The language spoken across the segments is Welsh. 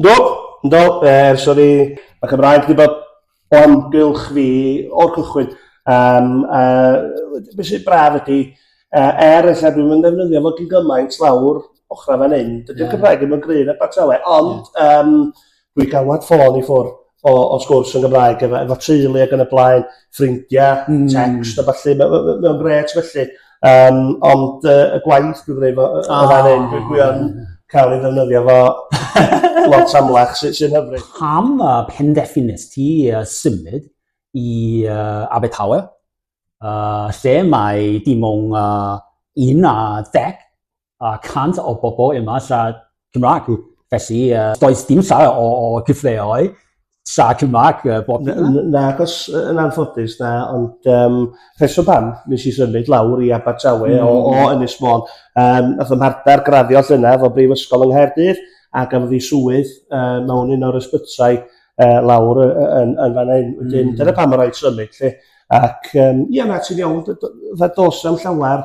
Yndw, yndw, er, sori. Mae Cymraeg wedi bod o amgylch fi o'r cychwyn. Um, uh, beth sy'n braf ydy, uh, er eich dwi'n mynd ddefnyddio fod yn gymaint lawr ochrau fan hyn, dydy'r yeah. Cymraeg ddim yn gryn a batawe, ond yeah. um, dwi gawad ffôn i ffwrdd o o sgwrs yn Gymraeg efo efo teulu ag yn y blaen, ffrindia... Hmm. ...text a ballu ma' ma' ma' mae o'n grêt felly yym ond yy y gwaith dwi'n gwneud efo yy y fan 'yn dwi dwi yn ca'l ei ddefnyddio fo lot amlach sy sy'n hyfryd. Pam y penderfynest ti yy symud i yy Abertawe yy lle mae dim on' yy un ar ddeg a 100 o bobl yma siarad Cymraeg. Felly, uh, does dim llai o, o gyfleoedd siarad Cymraeg uh, bob dydd. Na, achos yn anffodus na, ond um, rheswm pam nes i symud lawr i Abertawe mm. o, o hmm. Ynys Môn. Um, nath ym mhartner graddio llyna fo Brifysgol yng Nghaerdydd a gafodd ei swydd uh, mewn un o'r ysbytau uh, lawr yn, yn, yn fan hyn. Wedyn, mm. dyna pam yr oed symud. Lle. Ac um, ia, na, ti'n iawn, ddos am llawer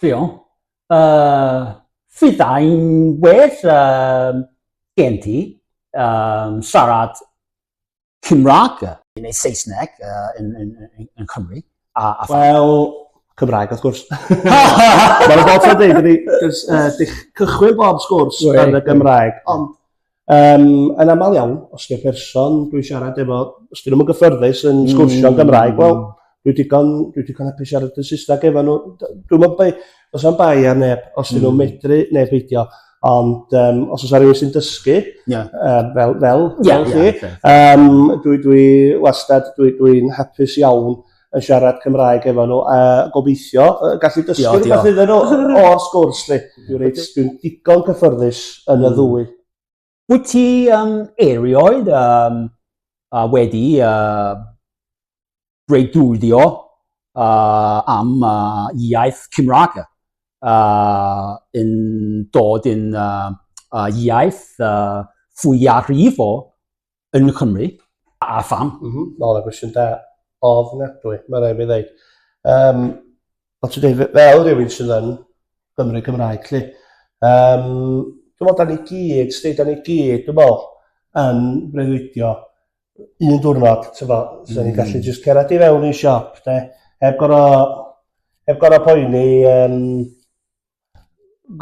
Ffion, Yy, fyddai'n well yym gen ti yym siarad Cymraeg. Neu Saesneg yn yn yn yn Cymru a a pha-? Wel, Cymraeg wrth gwrs. Mae 'na bob tro yn deud i fi jyst yy dych- cychwyn bob sgwrs yn y Gymraeg ond Yym yn amal iawn os 'ne person dwi'n siarad efo os 'dyn nw'm yn gyffyrddus yn sgwrsio yn Gymraeg wel dwi digon dwi digon apus siarad yn Saesneg efo n'w d- dwi'm yn bai- do's na'm bai ar neb os 'dyn nw'n medru ne' beidio ond yym os o's 'a rywun sy'n dysgu... Ie. ...yy fel fel fel chi yym dwi dwi wastad dwi dwi'n hapus iawn yn siarad Cymraeg efo nhw, a gobeithio uh, gallu dysgu rhywbeth iddyn nhw o'r sgwrs lle. Dwi'n reit, dwi'n digon cyffyrddus yn y hmm. ddwy. Wyt ti um, erioed um, uh, wedi uh, bregdwyddio uh, am uh, iaith Cymraeg uh, yn dod yn uh, uh, iaith uh, fwyafrifol Yn Nghymru? A pham? Mm -hmm. Mae hwnna'n gwestiwn da ofnadwy, mae rhaid mi ddeud. Um, ond ti'n dweud, fel rhywun sydd yn Gymru Cymraeg, lle, um, dwi'n meddwl, da ni gyd, sti, da ni gyd, dwi'n meddwl, yn breuddwydio un diwrnod, ti'n fo, mm. ni'n gallu mm. just cerad i fewn i siop, de, heb gorau, heb gorau poeni, um,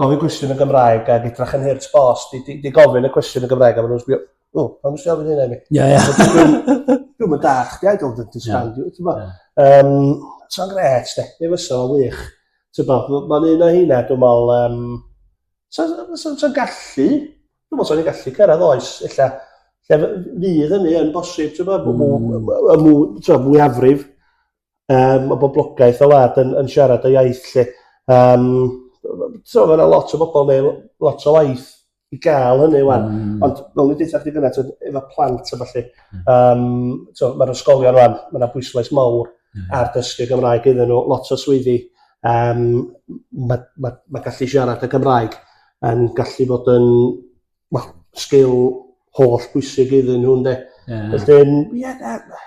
gofyn cwestiwn yn Gymraeg ag edrach yn hurt bost i di di gofyn y cwestiwn yn Gymraeg a ma' nw'n sbio o pam nesi ofyn hynna i mi? Ie ie. Dwi'm yn dall' chdi I don't understand you t'mo'? Yym sa'n grêt 'de mi fysa fo'n wych. T'bo' m- ma'n un o heina dwi me'wl yym sa sa sa sa'n gallu dwi me'wl sa ni gallu cyrradd oes ella lle fy- fydd hynny yn bosib t'bo' bo' bo' yy mwy t'o' mwyafrif um, o boblogaeth y wlad yn, yn siarad y iaith lle. Um, so, mae yna lot o bobl neu lot o waith i gael hynny wan. Mm. Ond fel ni'n deitha chdi gyna, efo plant a falle, um, so, mae'r ysgolion wan, mae yna bwyslais mawr mm. ar dysgu Gymraeg iddyn nhw, lot o swyddi. Um, mae ma, ma gallu siarad y Gymraeg yn gallu bod yn well, sgil holl bwysig iddyn nhw, ynddo. Yeah. Felly, ie, yeah,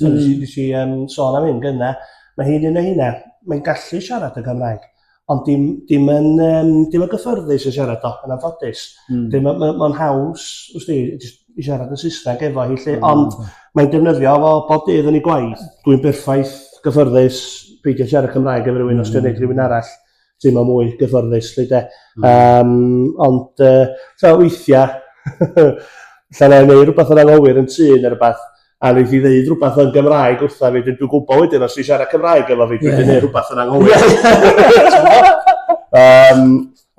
Dyna mm. nes i um, sôn am hyn gyna. Mae hi'n un o hynna. Mae'n gallu siarad y Gymraeg. Ond dim, dim, yn, um, dim yn gyffyrddus yn siarad o, yn anffodus. Mm. Dim, mae'n ma, ma haws, wrth di, i siarad yn Saesneg efo hi lle. Mm. Ond mae'n defnyddio fo bob dydd yn ei gwaith. Dwi'n berffaith gyffyrddus peidio siarad Cymraeg efo rhywun mm. os dwi'n gwneud rhywun arall. teimlo mwy gyfforddus lly de. Mm. Um, ond uh, so, weithiau, allan ei wneud rhywbeth yn anghywir yn tŷ neu rhywbeth, a wneud i ddeud rhywbeth yn Gymraeg wrtha fi, dwi'n dwi gwybod wedyn os dwi'n siarad Cymraeg efo fi, dwi'n yeah. gwneud rhywbeth yn anghywir. um,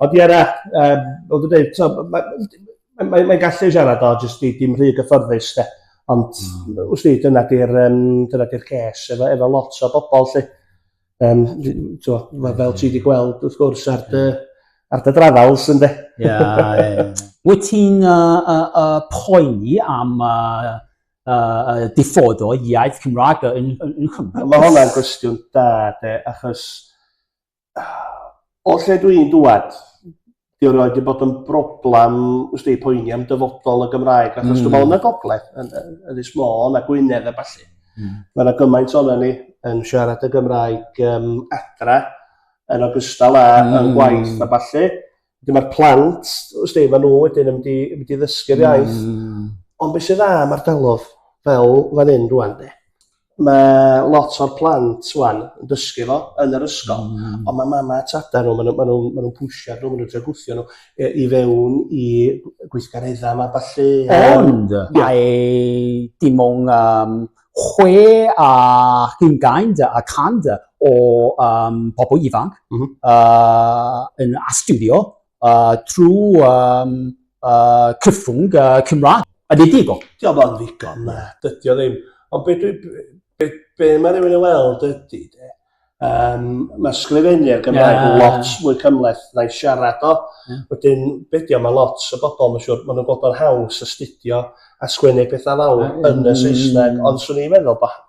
ond ie na, um, ond dwi'n dweud, mae'n mae, mae gallu siarad o, jyst di, dim rhy gyfforddus, de. Ond, mm. wrth i, dyna di'r um, dyna di ces efo, efo lot o bobl, lle. Yym d- n- t'wo' ma' fel ti 'di gweld wrth gwrs ar dy ar dy drafals ynde? Ie ie. Wyt ti'n uh, uh, uh, poeni am uh, uh, diffodd o iaith Cymraeg yn, yn, yn Cymru? Mae hwnna'n gwestiwn da de, achos o lle dwi'n dŵad, 'di o rioed 'di bod yn broblam wsti poeni am dyfodol y Gymraeg achos... Hmm. ...dwi me'wl yn y gogledd yn yn Ynys Môn a Gwynedd a ballu... Hmm. ...ma' 'na gymaint onon ni yn siarad y Gymraeg yym adra yn ogystal â... Hmm. ...yn gwaith a ballu. Wedyn ma'r plant wsti ma' nw wedyn yn mynd i mynd i ddysgu'r iaith. Hmm. Ond be' sy dda am ardalodd fel fan 'yn rŵan 'de ma' lot o'r plant ŵan yn dysgu fo yn yr ysgol. Hmm. On' ma' mama a tata nw ma' nw ma' nw'n ma' nw'n pwsio nw ma' nw'n trio gwthio nw yy i fewn i gw- gweithgaredda 'ma ballu a... Ond mae dim on' yym chwe a hugain de y cant o yym pobol ifanc... M-hm. ...yy yn astudio uh, trwy um, uh, cyffwng uh, Cymraeg. A di di bo? Diolch yn ddigon, na, dydy o ddim. Ond be, be, be, be mae rhywun yn weld ydy, de, um, mae sgrifennu ar Gymraeg yeah. lot mwy cymleth na i siarad o. Yeah. Wedyn, be di o, mae lot o bobl, mae'n siŵr, maen nhw'n gwybod o'n haws astudio a sgwennu pethau fawr yeah. yn y Saesneg, ond swn i'n meddwl bod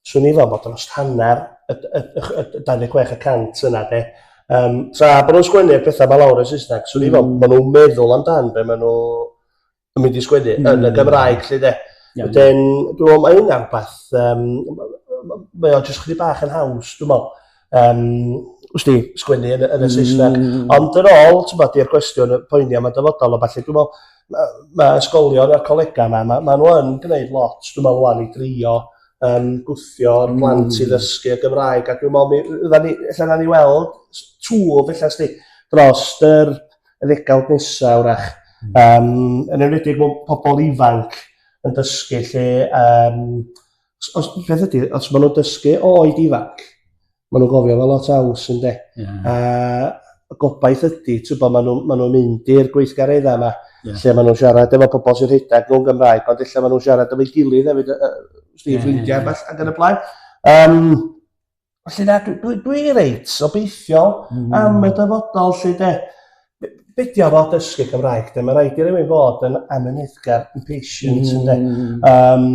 swn i'n fel bod dros hanner y, y, y, y 26 y cant yna de. Um, tra bod nhw'n sgwennu'r pethau mae lawr yn Saesneg, swn i'n fel, mm. maen nhw'n meddwl amdan be maen nhw yn mynd i sgwennu mm. yn y Gymraeg lle de. Yeah, Wedyn, dwi'n meddwl mae hynna'n rhywbeth, um, mae o jyst chdi bach yn haws, dwi'n meddwl. Yym, wst ti, sgwennu yn y yn y Saesneg. Hmm. Ond yn ôl, t'mod, i'r gwestiwn y poeni am y dyfodol a ballu, dwi'n meddwl, ma' ma' ysgolion a'r colegau yma, ma' ma' nhw yn gwneud lot, dwi'n meddwl, wan i drio um, gwthio'r hmm. plant i ddysgu y Gymraeg, a dwi'n meddwl, mi, fydda ni, ella na ni weld twf, ella sti, dros yr y ddegawd nesaf, wrach, um, yn enwedig mewn pobl ifanc yn dysgu lle, um, Os, os, peth ydy, os maen nhw'n dysgu o oed ifanc, maen nhw'n gofio fel lot aws yn de. Yeah. A gobaith ydy, ti'n bod, maen nhw'n nhw mynd i'r gweithgareddau yma, yeah. lle maen nhw'n siarad efo pobl sy'n rhedeg nhw'n Gymraeg, ond lle maen nhw'n siarad efo'i gilydd hefyd, uh, yeah, ffrindiau yeah, yeah. ac yn y blaen. Um, Felly na, dwi, dwi, dwi reit obeithiol mm. am y dyfodol lle de. Be di o fod dysgu Cymraeg? De? Mae rhaid i rywun fod yn amyneddgar, yn patient, mm. de. Um,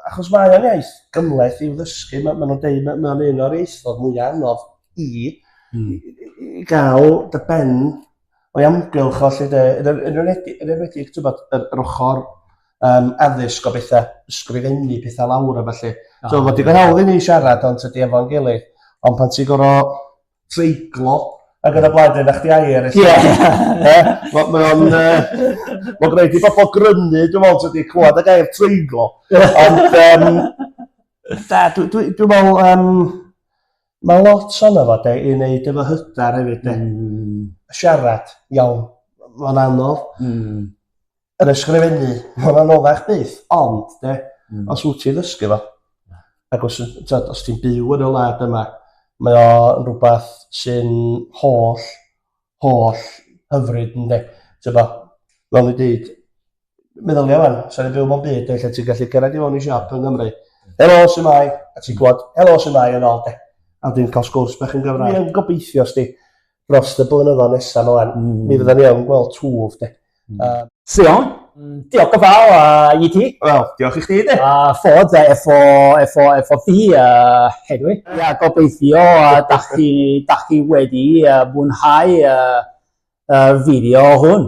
achos mae o'n iaith gymleth i'w ddysgu. Mae ma nhw'n dweud, mae ma un o'r ieithoedd mwy anodd i, mm. i, i gael dy ben o'i amgylch o 'lly 'de yn yn yn enwedig yn enwedig t'bod yr yr ochor yym addysg o betha ysgrifennu petha lawr a ballu. O. So ma' digon hawdd i ni siarad ond tydi efo'n gilydd ond pan ti gor'o' treiglo ag yn y blaen de 'da chdi air ellu... Ie. ...yy ma' mae o'n yy ma' gneud i bobol grynu dwi me'wl tydi clŵad y gair treiglo ond yym na dw dwi dwi me'wl yym Mae lot ohono fo 'de i neud efo hyder hefyd 'de? Hmm. Siarad. Iawn. Ma'n anodd. Hmm. Yr ysgrifennu. Ma'n anoddach byth ond 'de hmm. os wyt ti'n ddysgu fo ac os t'od os ti'n byw yn y wlad yma mae o'n rhywbeth sy'n holl holl hyfryd ynde? T'bo' fel o'n i'n deud meddylia wan, sa'n ni'n byw mewn byd lle ti'n gallu gyrraedd i fewn i siop yng Nghymru. Helo, sy'n mai? A ti'n gwybod, helo, sy'n mai yn ôl de. A dwi'n cael sgwrs bach yn Gymraeg. Dwi'n gobeithio, sti, dros y blynyddoedd nesaf yma lan, mm. mi fydda ni yn gweld twf de. Mm. Uh, Sion, mm, diolch yn fawr uh, i ti. Wel, diolch i chdi de. A uh, ffod uh, efo, efo, efo fi uh, hedwi. Ia, yeah, gobeithio uh, da, chi, da chi wedi uh, mwynhau uh, uh, fideo hwn.